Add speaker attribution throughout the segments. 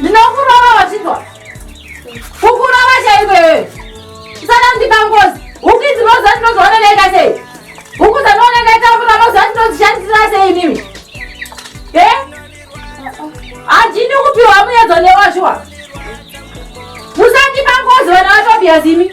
Speaker 1: ndinokurova vachidwa kukurova chaiko iyoyo usada kundipa ngozi huku idzi moziva ndinozooneneka sei huku dzanooneka itamura moziva ndinozishandisira sei imimi e handini kupiwa muyedzo newashuwa musandipa ngozi vana vatobiyazimi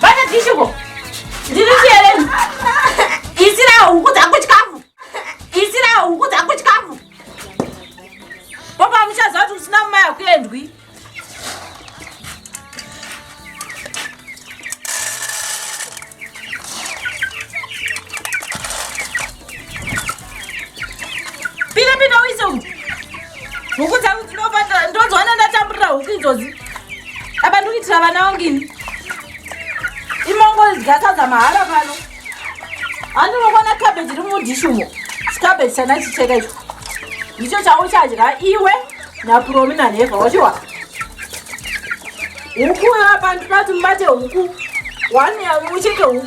Speaker 1: Bata tishuko. Ndiri chiyeleni. Isira huku dzangu chikafu. Isira huku dzangu chikafu. Baba muchaziva kuti usina mumai hakuendwi. Pinda pinda uise uku. Huku dzangu dzinofanira ndozoona ndatamburira huku idzodzi. Apa ndikuitira vana vangu ini. Imongo dzikasadza mahara pano. Handi unokona cabbage iri mudhishi umo. Cabbage chana chicheka icho. Icho chauchadya iwe naPromi naNeva wachiwa. Huku apa ndinoti mubate huku. Wani ucheke huku.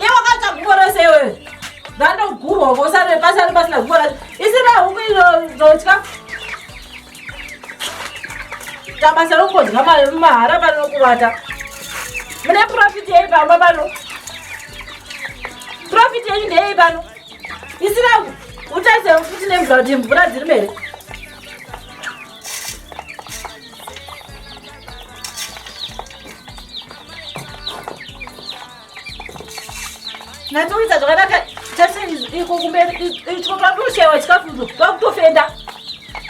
Speaker 1: Ye wakatsva gubo rose iwewe. Ndandogurwa vosare pasari pasina gubo racho. Isina huku inozotya. Tabasa rokodya mari mahara pano kuvata. Mune profit yei pamba pano? Profit yenyu ndeyei pano? Isina utarise futi nemvura kuti mvura dziri mberi. natoita zvakanaka tese iko kumberi ityo twakutoshaiwa chikafuzo twakutofenda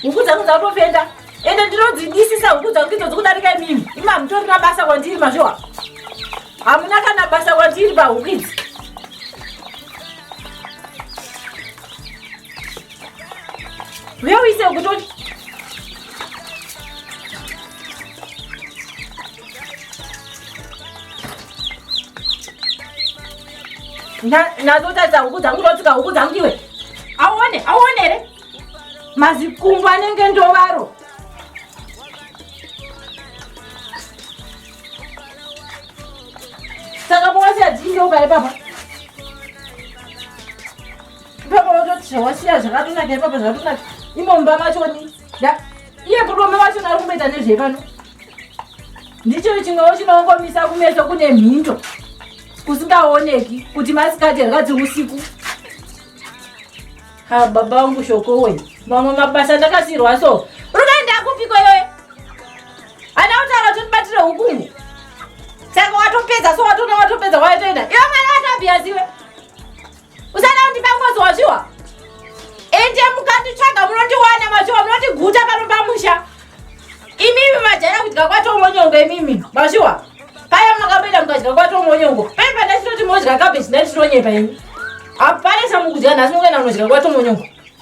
Speaker 1: huku dzangu dzakutofenda ende ndinodzidisisa huku dzangu idzo dzikudarika imimi imi hamutorina basa kwandiri mazviwa hamuna kana basa kwandiri pahuku idzi uyeuise kutoti nadzo taridza huku dzangu totsika huku dzangu iwe auone auone here mazikumbu anenge ndovaro saka mowasiya dziindoka ipapa ipapa wototi zvawasiya zvakatonaka ipapa zvakatonaka imomba machoni iye murume wacho ari kumboita nezvei pano ndicho chimwewo chinongomisa kumeso kune mhinto kusingaoneki kuti masikati here kadzi usiku ha baba vangu shoko we mamwe mabasa ndakasirwa so rukaenda kupiko iyoye ana kutaura kuti ndibatire hukumu saka watopedza so watona watopedza waitoenda iwe mwana watabhiyaziwe Usada kundipa ngozi wazviwa? Ende mukanditsvaga munondiwana mazviwa munondiguta pano pamusha. Imimi majaya kudya kwatomonyonga imimi mazviwa. Paya makapinda mukadya kwatomonyongo. Paya pandachinoti modya kabeji ndatitonyepa ini. Hapana chamukudya nhasi mukuenda munodya kwatomonyongo.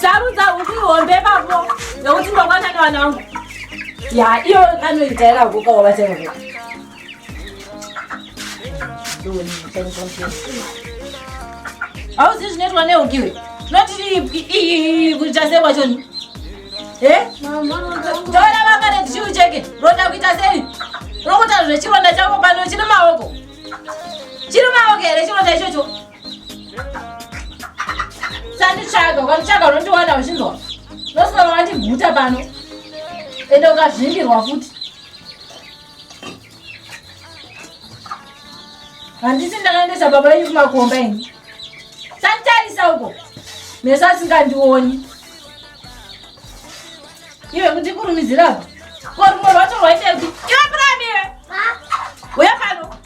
Speaker 1: sarudza huku ihombe pavo nokuti ndokwana nevana vangu ya iyo kanoitaira huku kawabatira huku hauzi zvinoitwa nehuku iwe noti iyi kuita sei kwachoni tora vanga netichiu cheke roda kuita sei rokuta zvechironda chako pano chiri maoko chiri maoko here chironda ichocho Sanditsvaga, ukanditsvaga unondiwana uchinzwa. Unosara wandiguta pano. Ende ukazvimbirwa futi. Handisi ndakaendesa baba venyu kumakomba ini. Sanditarisa uko. Meso asingandioni. Iwe kuti kurumizira apa. Ko rumwe rwacho rwaitepi? Iwe prime iwe. Uya pano.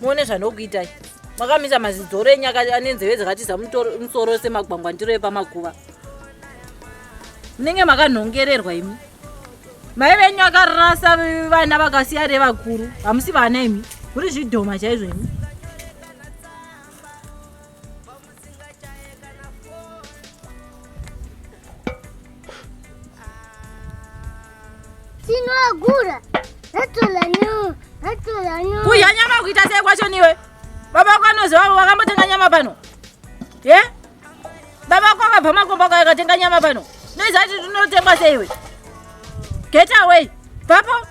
Speaker 1: muone zvanokuitai makamisa mazidzoro enyu ane nzeve dzakatiza musoro ose magwangwa ndiro epamakuva munenge makanhongererwa imi mai venyu akarasa vana vakasiya revakuru hamusi vana imi kuri zvidhoma chaizvo imi Tinogura. Kudya nyama kuita sei kwacho niwe? Baba wako anoziva wakambotenga nyama pano. Ye? Baba wako akabva makomba kwa akatenga nyama pano. Noiza kuti tinotengwa sei iwe? Get away. Papo.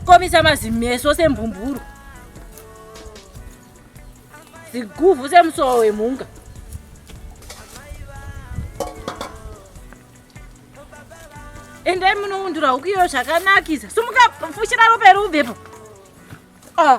Speaker 1: Komisa mazimeso sembhumburu. ziguvhu semusowa wemhunga endai munoundura huku iyo zvakanakisa sumuka fushira ropa iri ubvepo ah.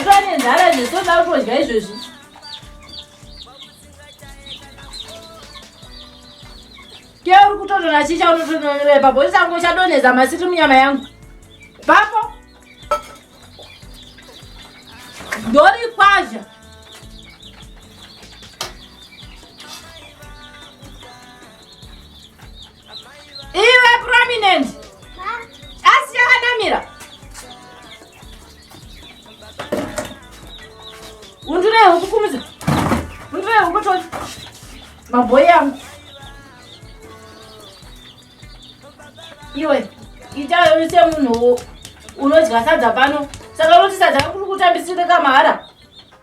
Speaker 1: Ndane ndara zvesoda kutodya izvezvi. Ke uri kutodona chicha unotodonera ipapo usango chadonhedza masiti munyama yangu. Papo. Ndori kwazha. iwe prominent asi yakanamira undurei huku kumudza undurei huku toti mabhoyi yangu iwe itayo semunhu unodya sadza pano saka unoti sadza kuri kutambisirika mahara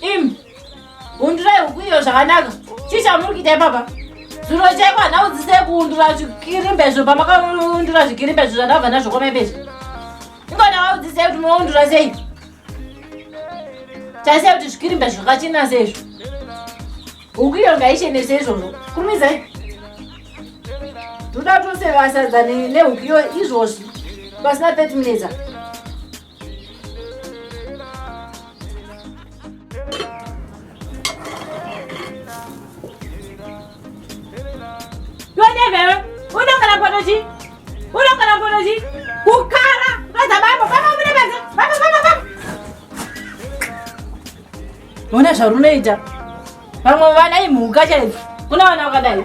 Speaker 1: Im, hundurai huku iyo zvakanaka. Chii chamuri kuita ipapa? Zuro chaiko hana udzise kuundura zvikirimbe zvo pamakaundura zvikirimbe zvo zvandabva nazvo kwamaipeshi. Ingona waudzise kuti munoundura sei? Taise kuti zvikirimbe zvakachena seizvo. Huku iyo ngaichene seizvozvo. Kurumizai. Toda tose vasadzane nehuku iyo izvozvi. Pasina 30 minutes. Ona zvarunoita vamwe vana imhuka chaidzo kuna vana vakadai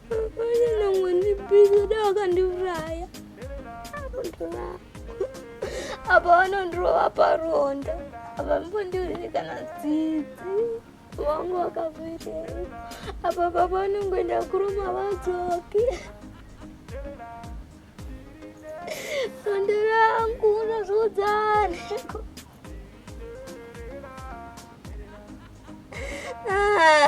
Speaker 1: apa vanondirova paronda apa mbondiuzi kana dzidzi wangu wakavirei apa baba vanongoenda kuruma vadzoki rondo rangu unozviudzaneko ah.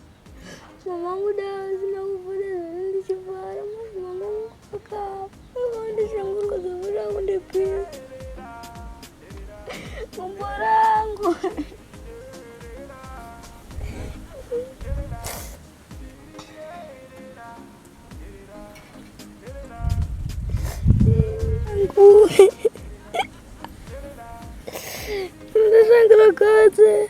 Speaker 1: Mama wangu dawa zina kuvuta zvinhu ndichivara mwana mama wangu akafa. Mama ndishangurwa zvavira wangu ndipira. Gumbo rangu. Angu. Ndishangurwa kotse.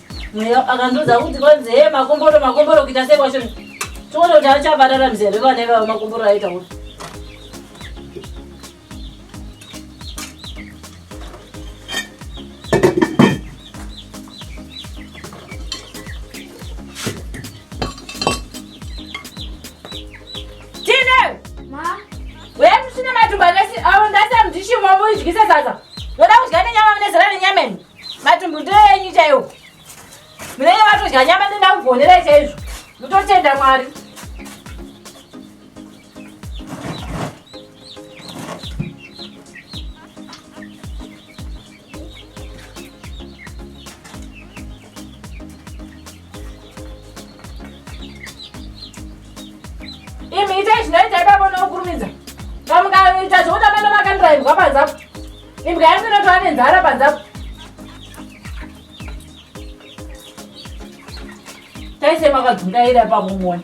Speaker 1: Mweya akandiudza kuti kwanzi he makomboro makomboro kuita sei kwacho. Toona kuti achabadara mzere vana ivavo makomboro aita kuti. Wewe mshina matumba ngasi au ndasa mdishi mwamu ichikisa sasa. Ngoda kudya nenyama mnezera nenyama. Matumbu ndoenyu chaiwo. Munenge matodya nyama ndoda kugonera chaizvo. Mutotenda Mwari. Imi itai zvinoita ipapo nokurumidza. Pamukaita zvokuda mano makandirairwa panzapo. Imbwa yangu inotova nenzara panze apo. Taise makadzungaira ipapo muone.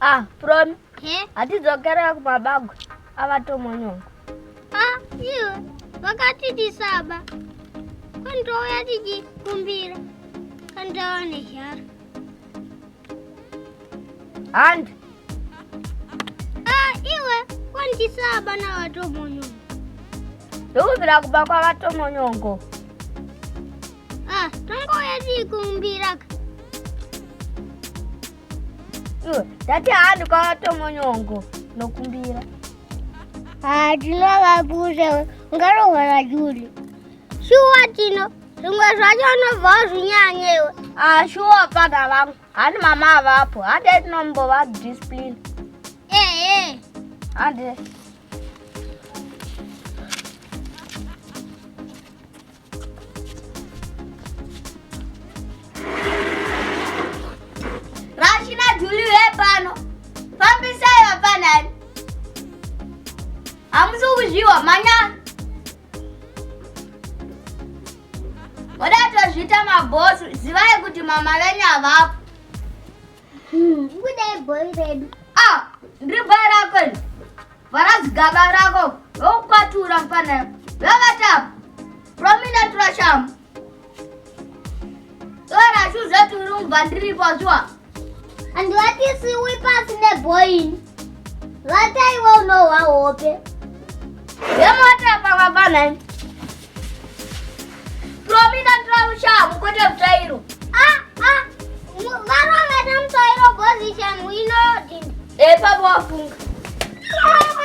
Speaker 1: Ah, Promi. He? Hatidzokera kumabagwe. Ava tomonyonga. Ah, iwe. Vakati tisaba. Kwani touya tichikumbira. Kandawa nezhara. Hand. Ah, iwe wandisa bana vatomonyongo. Ndokubvira kuba kwavatomonyongo. Ah, tongoya tikumbira ka. Iwe, ndati handi kwavatomonyongo nokumbira. Ah, tinova kuze ungarohwera Juli. Shuwa tino. zvimwe zvacho unobva wazvinyanya iwe ashuwa ah, fana vangu handi mama avapo hande tinombova discipline ehe hande rashina juli vepano fambisai vafanani hamusi kuzviwa manyana Moda tozviita mabhosu, zivai kuti mama venyu havapo. Hmm, kudai bhoi redu. Ah, ndiri bhoi rako ini. Vara zigaba rako, vokukwatura mfana. Vavatapo. Promina turashamu. Dora shoes at room bandiri pachwa. And what is we with us in the boy? What I will know how open. Yamata papa bana. Promina trawusha mukote mtairo. Ah ah. Varo ngata mtairo position we know it. Eh papa wafunga. Mama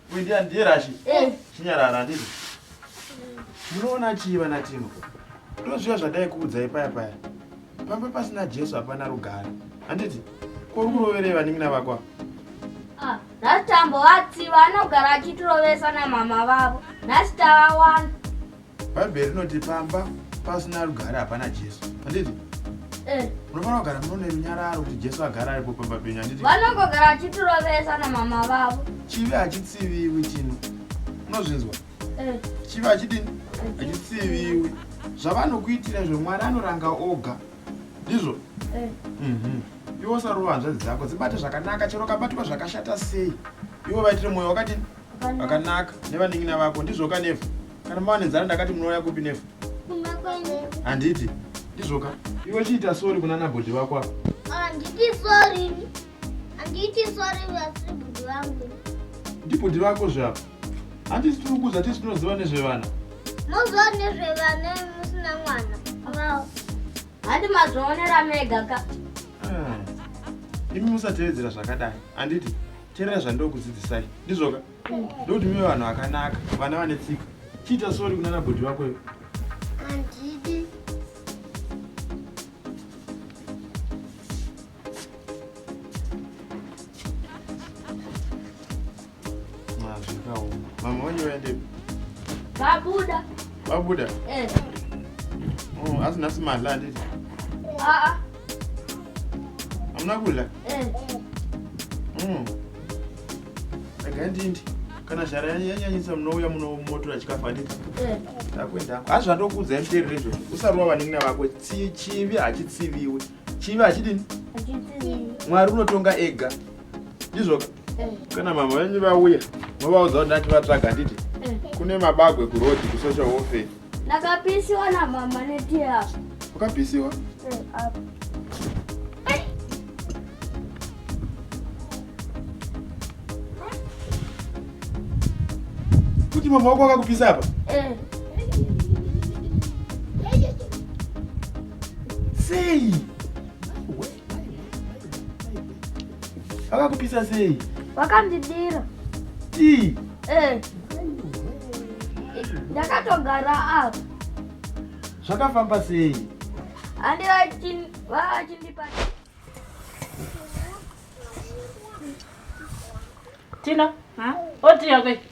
Speaker 1: Kuendea ndiye rashi. Eh. Chinyarara handiti. Munoona chii vana Tino? Ndozviya zvadai kuudzai paya paya. Pamba pasina Jesu hapana rugare. Handiti? Ko kuroverei vanin'ina vako? Ah, nhasi tambovati vanogara achitirovesa namama vavo. Nhasi tavawana. Bhaibheri rinoti pamba pasina rugare hapana Jesu. Handiti? Eh. Unofanira kugara muno nerunyararo kuti Jesu agara aripo pamba penyu handiti? Vanongogara vachitirovesa namama vavo. Chivi hachitsiviwi chino. Unozvinzwa? Eh. Chivi hachidini? Hachitsiviwi. Zvavanokuitira izvo Mwari anoranga oga. Ndizvo? Eh. Mhm. Iwo sarova hanzvadzi dzako dzibate zvakanaka chero kabatwa zvakashata sei. Iwo vaitire mwoyo wakadini? Pakanaka nevanin'ina vako ndizvoka Nefu. Kana mawane nzara ndakati munouya kupi Nefu? Kumba kwenyu. Handiti ndizvoka. Iwe chiita sorry kuna nabhodhi vako apa. Handiti sorry. Handiti sorry vasiri bhodhi vangu. Ndibhodhi vako zvapa. Handiti tiri kuudza tisi tinoziva nezvevana. Moziva nezvevana musina mwana. Vao. Handi mazvionera mega ka. Ah. Imi musatevedzera zvakadai. Handiti? teerera zvandokudzidzisai ndizvoka ndokuti mive vanhu vakanaka vana vane tsika chiita sori kunana bhodhi vako ivo mama wenyu vaendepi vabuda vabuda eh. oh, asi nhasi madla anditi aa ah, ah. hamuna kudya eh. mm. rega ndindi kana zhara yanyanyisa munouya munomotora chikafu handiti eh. ndakuendako hazvo andokuudzai muterere izvozvo usarova vanin'ina vako chivi hachitsiviwi chivi hachidini mwari unotonga ega ndizvoka eh. kana mama venyu vauya movaudza kuti ndati vatsvaga handiti eh. kune mabagwe kuroad kusocial warfare ndakapisiwa namama netiya ukapisiwa eh, kuti mama wako akakupisa apa sei Vakakupisa sei? Vakandidira. Tii? Eh. Ndakatogara apa. Zvakafamba sei? Andi vachindipa. Tina, ha? Oti yakwe.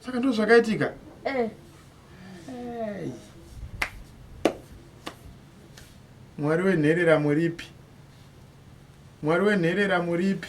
Speaker 1: saka ndo zvakaitika eh. mwari wenherera muripi mwari wenherera muripi